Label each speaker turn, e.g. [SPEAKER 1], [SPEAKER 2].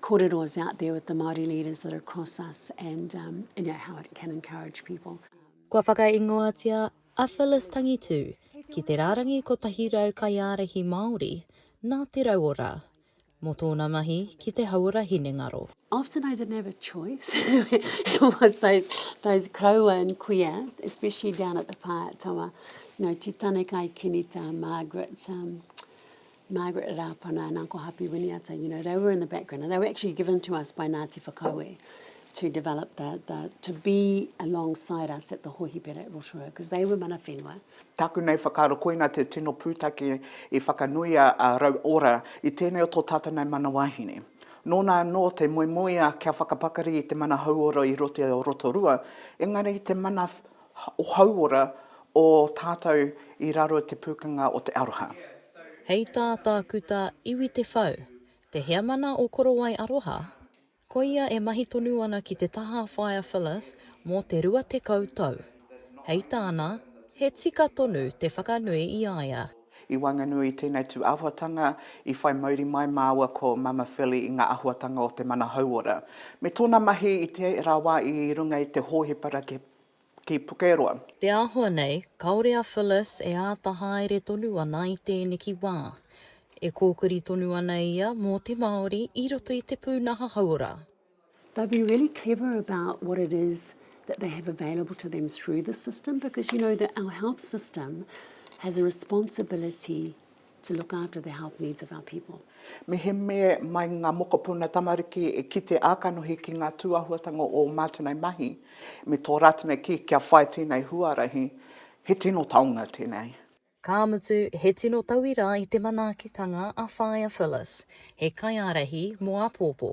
[SPEAKER 1] kōrero is out there with the Māori leaders that are across us and um, you know, how it can encourage people. Kua whakaingoatia
[SPEAKER 2] a Phyllis Tangitū ki te rārangi 100 kaiārahi Māori nā Te Rauora mō tōna mahi ki te hauora hinengaro. Often I didn't have a
[SPEAKER 1] choice. It was those, those koroua and kuia, especially down at the Pātawa. You know, Titane Kai Kenita, Margaret, um, Margaret Rapana and Uncle Hapi Winiata, you know, they were in the background and they were actually given to us by Ngāti Whakaue to develop the, the, to be alongside us at the hohipera at Rotorua, because they were mana whenua. Taku nei whakaaro
[SPEAKER 3] koina te tino pūtake i whakanuia a Rau Ora i tēnei o tō tātou nei mana wāhine. Nōna anō te moemoea kia whakapakari i te mana hauora i roto o Rotorua, engari te mana o hauora o tātou i raro i te pūkenga o te aroha. Hei tā
[SPEAKER 2] Tākuta Iwi Te Whau, te heamana o Korowai Aroha, koia e mahi tonu ana ki te taha Whaea Phyllis mō te rua tekau tau. Hei tāna, he tika tonu te whakanui i a ia. I waenganui i
[SPEAKER 3] tēnei tū āhuatanga, i whai mauri mai māua ko Mama Philly i ngā āhuatanga o te mana hauora, me tōna mahi i tērā wā i runga i te hōhipera ki ki Pukeroa. Te āhua
[SPEAKER 2] nei, kāore a Phyllis e āta haere tonu ana i tēneki wā. E kōkiri tonu ana ia mō te Māori i roto i te pūnaha hauora. They'll be
[SPEAKER 1] really clever about what it is that they have available to them through the system because you know that our health system has a responsibility to look after the health needs of our people. Mehemea
[SPEAKER 3] mai ngā mokopuna tamariki e kite ā-kanohi ki ngā tūāhuatanga o ō mātou nei mahi me tō rātou nei kī kia whai tēnei huarahi, he tino taonga tēnei. Ka mutu,
[SPEAKER 2] he tino tauira i te manaakitanga a Whaea Phyllis, he kaiārahi mō āpōpō.